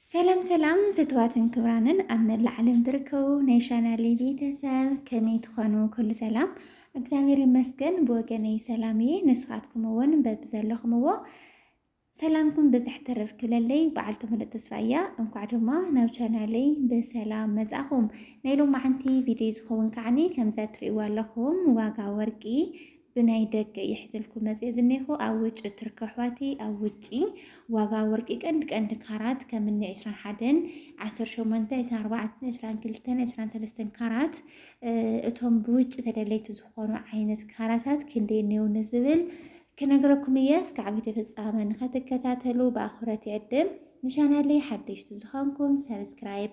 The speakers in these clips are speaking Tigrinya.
ሰላም ሰላም ፍትዋትን ክብራንን ኣብ መላእ ዓለም ትርከቡ ናይ ቻናል ቤተሰብ ከመይ ትኾኑ? ኩሉ ሰላም እግዚኣብሔር ይመስገን ብወገነይ ሰላም እየ። ንስኻትኩም እውን በብዘለኹምዎ ሰላምኩም ብዝሕ ትርፍ ክብለለይ በዓል ትምህርቲ ተስፋ እያ። እንኳዕ ድማ ናብ ቻናለይ ብሰላም መጻኹም። ናይ ሎማዓንቲ ቪድዮ ዝኸውን ከዓኒ ከምዚ እትርእይዎ ኣለኹም ዋጋ ወርቂ ብናይ ደገ እየ ሒዘልኩም መፂኤ ዝኔኹ ኣብ ውጭ ቱርክ ኣሕዋቲ ኣብ ውጪ ዋጋ ወርቂ ቀንዲ ቀንዲ ካራት ከም እኒ ዕስራን ሓደን ዓሰርተ ሸሞንተ ዕስራን ኣርባዕተን ዕስራን ክልተን ዕስራን ሰለስተን ካራት እቶም ብውጭ ተደለይቲ ዝኾኑ ዓይነት ካራታት ክንደይ እኔው ንዝብል ክነግረኩም እየ እስካዕ ቪድዮ ፍፃመ ንኸትከታተሉ ብኣኽብረት ይዕድም ንቻናለይ ሓደሽቲ ዝኾንኩም ሰብስክራይብ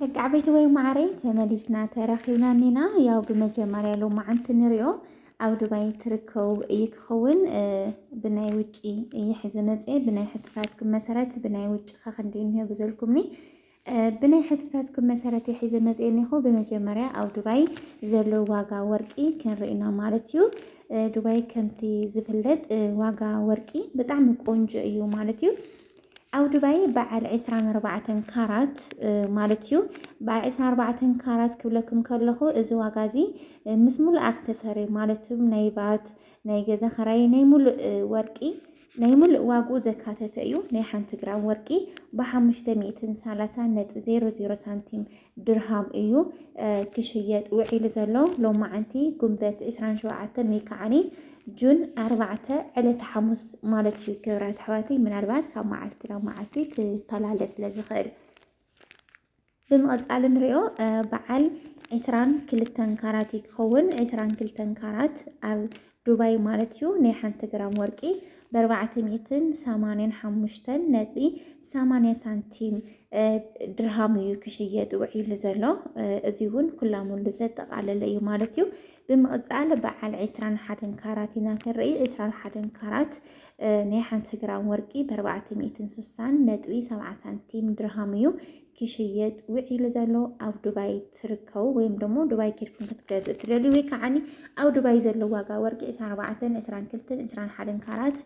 ደቂ ዓበይቲ ወይ ማዕረይ ተመሊስና ተረኺብና እኒና ያው ብመጀመርያ ሎማዓንቲ ንሪኦ ኣብ ዱባይ ትርከቡ እዩ ክኸውን ብናይ ውጪ ይሕዚ መፅኤ ብናይ ሕቶታትኩም መሰረት ብናይ ውጪ ከክንዲ እንሄ ብዘልኩምኒ ብናይ ሕቶታትኩም መሰረት እየ ሒዘ መፅየ እኒኹ ብመጀመርያ ኣብ ዱባይ ዘሎ ዋጋ ወርቂ ክንርኢ ኢና ማለት እዩ ዱባይ ከምቲ ዝፍለጥ ዋጋ ወርቂ ብጣዕሚ ቆንጆ እዩ ማለት እዩ ኣብ ዱባይ በዓል 24 ካራት ማለት እዩ በዓል 24 ካራት ክብለኩም ከለኹ እዚ ዋጋ እዚ ምስ ሙሉእ ኣክሰሰሪ ማለት እዩ ናይ ባት ናይ ገዛ ኸራይ ናይ ሙሉእ ወርቂ ናይ ሙሉእ ዋግኡ ዘካተተ እዩ። ናይ ሓንቲ ግራም ወርቂ ብሓሙሽተ ሚእትን ሰላሳን ነጥቢ ዜሮ ዜሮ ሳንቲም ድርሃም እዩ ክሽየጥ ውዒሉ ዘሎ። ሎማዓንቲ ጉንበት ዕስራን ሸውዓተን ወይ ከዓኒ ጁን ኣርባዕተ ዕለተ ሓሙስ ማለት እዩ። ክብራት ኣሕዋተይ ምናልባት ካብ መዓልቲ ናብ መዓልቲ ክፈላለ ስለ ዝኽእል ብምቕጻል እንሪኦ በዓል ዕስራን ክልተን ካራት እዩ ክኸውን። ዕስራን ክልተን ካራት ኣብ ዱባይ ማለት እዩ ናይ ሓንቲ ግራም ወርቂ ብኣርባዕተ ሚእትን ሰማንያን ሓሙሽተን ነጥቢ ሰማንያ ሳንቲም ድርሃም እዩ ክሽየጥ ውዒሉ ዘሎ። እዚ እውን ኩላሙሉ ዘጠቓለለ እዩ ማለት እዩ። ብምቕፃል በዓል ዕስራን ሓደን ካራት ኢና ክንርኢ። ዕስራን ሓደን ካራት ናይ ሓንቲ ግራም ወርቂ ብኣርባዕተ ሚእትን ስሳን ነጥቢ ሰብዓ ሳንቲም ድርሃም እዩ ክሽየጥ ውዒሉ ዘሎ ኣብ ዱባይ ትርከቡ ወይም ደሞ ዱባይ ኬድኩም ክትገዝኡ ትደልዩ ወይ ከዓኒ ኣብ ዱባይ ዘሎ ዋጋ ወርቂ ዕስራን ኣርባዕተን ዕስራን ክልተን ዕስራን ሓደን ካራት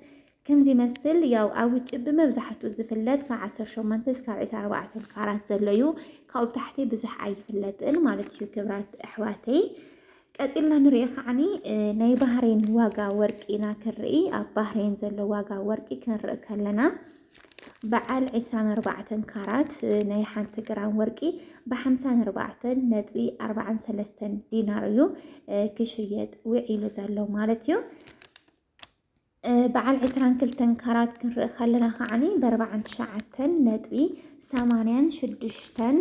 ከምዚ ይመስል ያው ኣብ ውጭ ብመብዛሕትኡ ዝፍለጥ ካብ 18 እስካብ 24 ካራት ዘሎ እዩ ካብኡ ብታሕቲ ብዙሕ ኣይፍለጥን ማለት እዩ ክብራት ኣሕዋተይ ቀጺልና ንሪኦ ከዓኒ ናይ ባህሬን ዋጋ ወርቂ ኢና ክንርኢ ኣብ ባህሬን ዘሎ ዋጋ ወርቂ ክንርኢ ከለና በዓል 24 ካራት ናይ ሓንቲ ግራም ወርቂ ብ54 ነጥቢ 43 ዲናር እዩ ክሽየጥ ውዒሉ ዘሎ ማለት እዩ። በዓል ዕስራን ክልተን ካራት ክንርኢ ከለና ከዓኒ በርባዓን ትሽዓተን ነጥቢ ሰማንያን ሽዱሽተን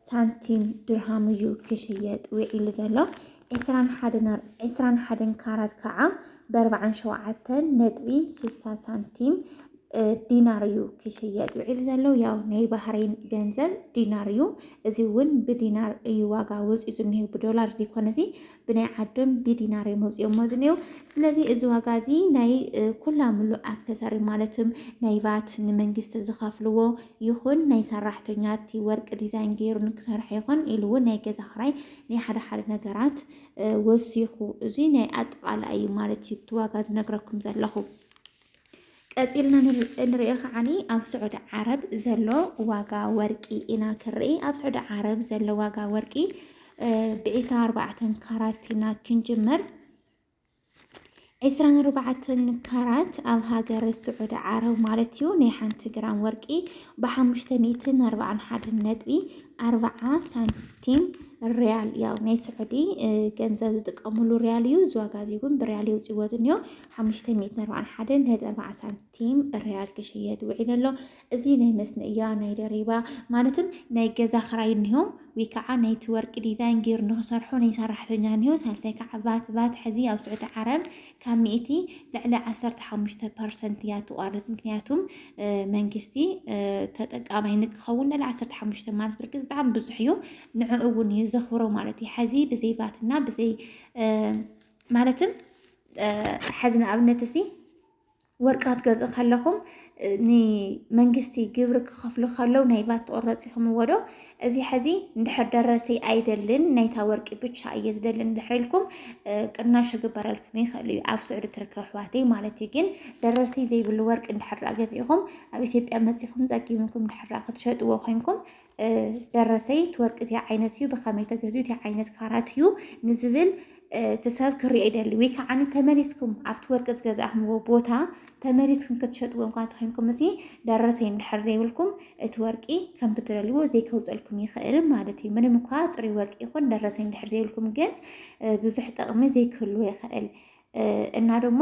ሳንቲም ድርሃም እዩ ክሽየጥ ውዒሉ ዘሎ ዕስራን ሓደን ካራት ከዓ በርባዓን ሸውዓተን ነጥቢ ሱሳ ሳንቲም ዲናር እዩ ክሽየጥ ውዒሉ ዘሎ ያው ናይ ባህሬን ገንዘብ ዲናር እዩ እዚ እውን ብዲናር እዩ ዋጋ ወፂኡ ዝኒሄ ብዶላር ዘይኮነ እዚ ብናይ ዓዶም ብዲናር እዮም ኣውፂኦሞ ዝኒሄው። ስለዚ እዚ ዋጋ እዚ ናይ ኩላ ምሉእ ኣክሰሰሪ ማለት ናይ ቫት ንመንግስቲ ዝኸፍልዎ ይኹን ናይ ሰራሕተኛ እቲ ወርቂ ዲዛይን ገይሩ ንክሰርሖ ይኹን ኢሉ እውን ናይ ገዛ ክራይ ናይ ሓደ ሓደ ነገራት ወሲኹ እዚ ናይ ኣጠቓላይ እዩ ማለት እዩ እቲ ዋጋ ዝነግረኩም ዘለኹ። ቀፂልና እንሪኦ ከዓኒ ኣብ ስዑዲ ዓረብ ዘሎ ዋጋ ወርቂ ኢና ክንርኢ። ኣብ ስዑዲ ዓረብ ዘሎ ዋጋ ወርቂ ብዒስራን ኣርባዕተን ካራት ኢና ክንጅምር። ዒስራን ኣርባዕተን ካራት ኣብ ሃገር ስዑዲ ዓረብ ማለት እዩ ናይ ሓንቲ ግራም ወርቂ ብሓሙሽተ ሚእትን ኣርባዓን ሓደ ነጥቢ ኣርባዓ ሳንቲም ሪያል ያው ናይ ስዑዲ ገንዘብ ዝጥቀምሉ ሪያል እዩ። እዚ ዋጋ እዚ እውን ብሪያል የውፅዎ ዝኒኦ ሓሙሽተ ሚእትን ኣርባዓን ሓደን ነጥቢ ኣርባዓ ሳንቲም ሪያል ክሽየጥ ውዒሉ ኣሎ። እዚ ናይ መስነእያ ናይ ደሪባ ማለትም ናይ ገዛ ክራይ እኒሆ ወይ ከዓ ናይቲ ወርቂ ዲዛይን ገይሩ ንክሰርሖ ናይ ሰራሕተኛ እኒሆ ሳልሳይ ከዓ ቫት ቫት ሕዚ ኣብ ስዑዲ ዓረብ ካብ ሚእቲ ልዕሊ ዓሰርተ ሓሙሽተ ፐርሰንት እያ ትቋርፅ ምክንያቱም መንግስቲ ተጠቃማይ ንክኸውን ልዕሊ ዓሰርተ ሓሙሽተ ማለት ብርግፅ ብጣዕሚ ብዙሕ እዩ ንዕኡ እውን እዩ ዘኽብሮ ማለት እዩ ሕዚ ብዘይ ቫትና ብዘይ ማለትም ሐዚ ንኣብነት እሲ ወርቂ ክትገዝኡ ከለኹም ንመንግስቲ ግብሪ ክኸፍሉ ከለው ናይ ቫት ትቑረፂኹምዎ ዶ እዚ ሐዚ እንድሕር ደረሰይ ኣይደልን ናይታ ወርቂ ብቻ እየ ዝደሊ እንድሕር ኢልኩም ቅናሽ ክግበረልኩም ይኽእል እዩ ኣብ ስዑዲ ትርከብ ኣሕዋተይ ማለት እዩ ግን ደረሰይ ዘይብሉ ወርቂ እንድሕር ገዚእኹም ኣብ ኢትዮጵያ መፂኹም ፀጊምኩም እንድሕር ክትሸጥዎ ኮይንኩም ደረሰይ እቲ ወርቂ እታይ ዓይነት እዩ ብኸመይ ተገዝኡ እታይ ዓይነት ካራት እዩ ንዝብል እቲ ሰብ ክርኦ ይደሊ ወይ ከዓ ተመሊስኩም ኣብቲ ወርቂ ዝገዛእክምዎ ቦታ ተመሊስኩም ክትሸጥዎ እንኳ ተኮንኩም እዚ ደረሰይ እንድሕር ዘይብልኩም እቲ ወርቂ ከም ብትደልዎ ዘይከውፀልኩም ይኽእል ማለት እዩ። ምንም እኳ ፅሩይ ወርቂ ይኹን ደረሰይ እንድሕር ዘይብልኩም ግን ብዙሕ ጥቕሚ ዘይክህልዎ ይኽእል። እና ደሞ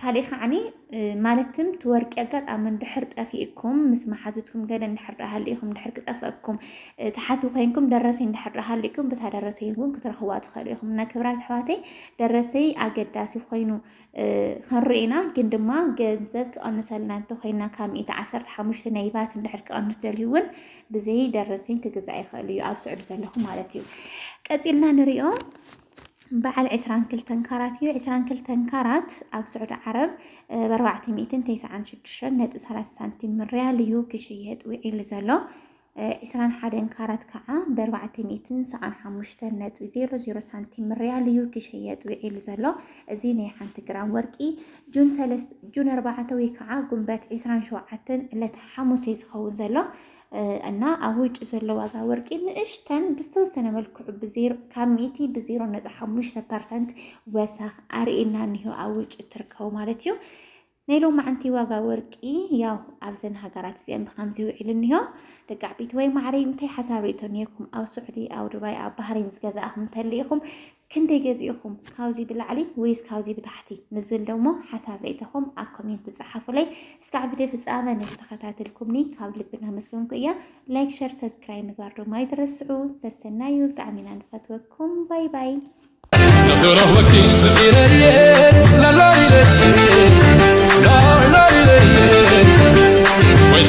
ካልእ ከዓኒ ማለትም ትወርቂ ኣጋጣሚ እንድሕር ጠፊእኩም ምስ መሓዙትኩም ገለ እንድሕር ደኣ ሃሊእኩም እንድሕር ክጠፍአኩም ተሓዙ ኮይንኩም ደረሰይ እንድሕር ደኣ ሃሊእኩም ብታ ደረሰይ እውን ክትረኽዋ ትኽእሉ ኢኹም እና ክብራት ኣሕዋተይ ደረሰይ ኣገዳሲ ኮይኑ ክንርኢና ግን ድማ ገንዘብ ክቐንሰልና እንተኮይና ካብ ሚእቲ ዓሰርተ ሓሙሽተ ናይ ቫት እንድሕር ክቐንስ ደልዩ እውን ብዘይ ደረሰኝ ክግዛእ ይኽእል እዩ ኣብ ስዑዲ ዘለኹ ማለት እዩ ቀፂልና ንሪኦ በዓል ዕስራን ክልተን ካራት እዩ። ዕስራን ክልተን ካራት ኣብ ስዑዲ ዓረብ ብኣርባዕተ ሚእትን ተስዓን ሽዱሽተን ነጥቢ ሰላሳ ሳንቲም ሪያል እዩ ክሽየጥ ውዒሉ ዘሎ። ዕስራን ሓደን ካራት ከዓ ብኣርባዕተ ሚእትን ሰዓን ሓሙሽተን ነጥቢ ዜሮ ዜሮ ሳንቲም ሪያል እዩ ክሽየጥ ውዒሉ ዘሎ። እዚ ናይ ሓንቲ ግራም ወርቂ ጁን ሰለስተ ጁን ኣርባዕተ ወይ ከዓ ጉንበት ዕስራን ሸውዓተን ዕለት ሓሙስ እዩ ዝኸውን ዘሎ። እና ኣብ ውጭ ዘሎ ዋጋ ወርቂ ንእሽተን ብዝተወሰነ መልክዑ ካብ ሚእቲ ብዜሮ ነጥቢ ሓሙሽተ ፐርሰንት ወሰኽ ኣርእና እኒሆ ኣብ ውጭ እትርከቡ ማለት እዩ ናይ ሎማዕንቲ ዋጋ ወርቂ ያው ኣብዘን ሃገራት እዚአን ብከምዚ ውዒሉ እኒሆ ደቂ ዓበይቲ ወይ ማዕረይ እንታይ ሓሳብ ርእቶ ኒኩም ኣብ ስዑዲ ኣብ ዱባይ ኣብ ባህሬን ዝገዛእኹም እንተሊኢኹም ክንደይ ገዚእኹም ካብዚ ብላዕሊ ወይስ ካብዚ ብታሕቲ ንዝብል ደሞ ሓሳብ ርእይተኹም ኣብ ኮሜንት ጸሓፉለይ። እስካዕ ቪድዮ ፍጻመ ንዝተኸታተልኩምኒ ካብ ልቢ እናመስገንኩ እየ። ላይክ ሸር ሰብስክራይብ ምግባር ድማ ኣይትረስዑ። ሰሰናዩ ብጣዕሚ ኢና ንፈትወኩም። ባይ ባይ Wait,